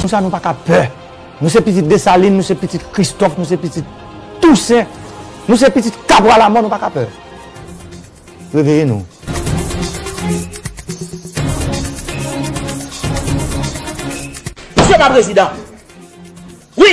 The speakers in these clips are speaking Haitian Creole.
Pou sa nou pa ka pè. Nou se pitit Desalin, nou se pitit Kristòf, nou se pitit Tousen, nou se pitit Kabwa Lamò, nou pa ka pè. Reveye nou. Msye pa prezidan. Wi!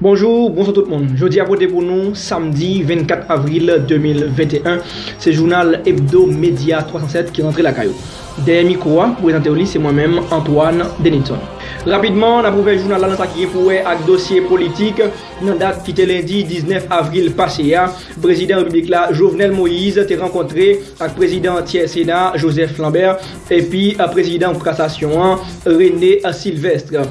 Bonjou, bonswa tout moun. Jodi a pote pou nou samdi 24 avril 2021, se jounal Ebdo Media 307 ki rantre lakay ou. Dèyè mikwo a pou prezante w li se mwen menm Antoine Denilson. Rapidman, nap ouvè jounal la nan sa ki gen pou wè ak dosye politik. Nan dat ki te lendi 19 avril pase a, prezidan repiblik la Jovenel Moïse te rankontre ak prezidan antyè sena a Joseph Lambert Epi prezidan kasasyon an, René Sylvestre.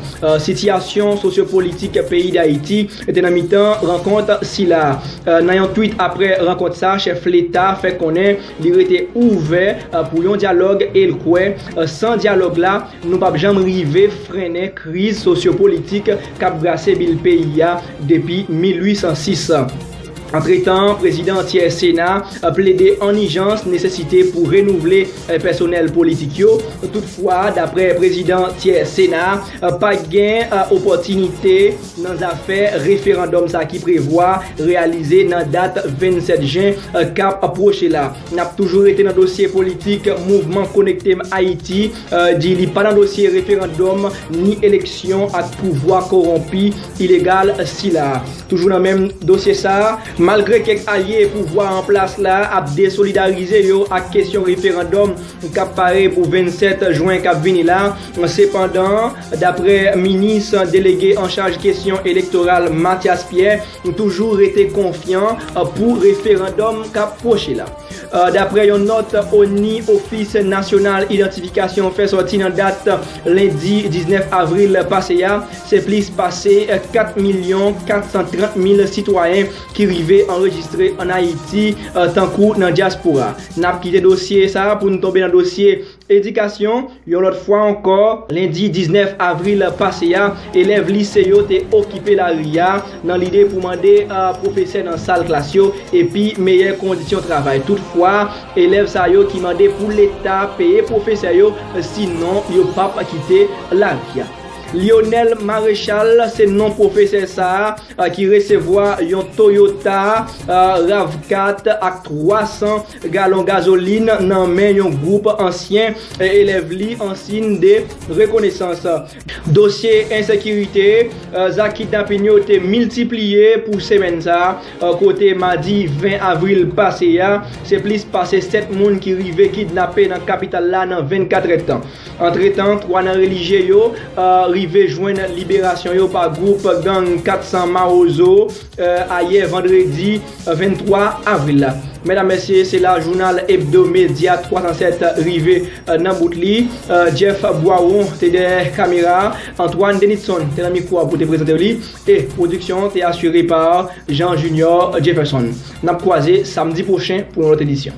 Sitiyasyon sosyopolitik peyi Dayiti te nan mitan rankont sila. Nan yon twit apre rankont sa, chèf leta fè konnen li rete ouvè pou yon dyalòg e l kwè san dyalòg la nou pap janm rive frennen kriz sosyopolitik k ap brase bil peyi a depi 1806. Antretan, prezidan an tyè Sena a plede an ijans nesesite pou renouvle pèsonèl politik yo. Toutfwa, daprè prezidan tyè Sena a, pa gen opòtinite nan zafè referandòm sa ki prevwa reyalize nan dat 27 jen kap pwoche la. Nap toujou rete nan dosye politik mouvman Konektem Ayiti. di li pa nan dosye referandòm ni eleksyon ak pouvwa kowonpi, ilegal sila. Toujou nan menm dosye sa, malgre kèk alye pouvwa an plas la ap desolidarize yo ak kesyon referandòm k ap pare pou 27 jwen k ap vini la, sepandan, daprè minis delege anchaj kesyon elektoral Mathias Pierre, toujou rete konfyan pou referandòm k ap pwoche la. Dapre yon nòt ONI, Ofis Nasyonal Idantifikasyon, fè sòti nan dat lendi 19 avril pase a, se plis pase 4 milyon 430 mil sitwayen ki rive anrejistre ann Ayiti tankou nan dyaspora. N ap kite dosye sa a pou n tonbe nan dosye Edikasyon, Yon lòt fwa ankò, lendi 19 avril pase a, elèv lise yo te okipe lari a nan lide pou mande pwofesè nan sal klas yo epi meyè kondisyon travay. Toutfwa, elèv sa yo ki mande pou leta peye pwofesè yo sinon yo p ap kite lari a. Lyonel Maréchal se non pwofesè sa a ki resevwa yon Toyota Rav4 ak 300 galon gazolin nan men yon gwoup ansyen elèv li an siyn de rekonesans. Dosye ensekirite, Zak kidnapin yo te miltipliye pou semèn sa a kote madi 20 avril pase a, se plis pase 7 moun ki rive kidnape nan kapital la nan 24 èdtan. Antretan, 3 nan relijye yo rive jwenn liberasyon yo pa gwoup gang 400 Mawozo. Ayè vandredi 23 avril la. Medam mesye se la jounal Hebdo Media 307 rive nan bout li. Jeff Boiron te dèyè kamera, Antoine Denitson te nan mikwo a pou te prezante li e pwodiksyon an te asire pa Jean Junior Jefferson. N ap kwaze samdi pwochen pou yon lòt edisyon.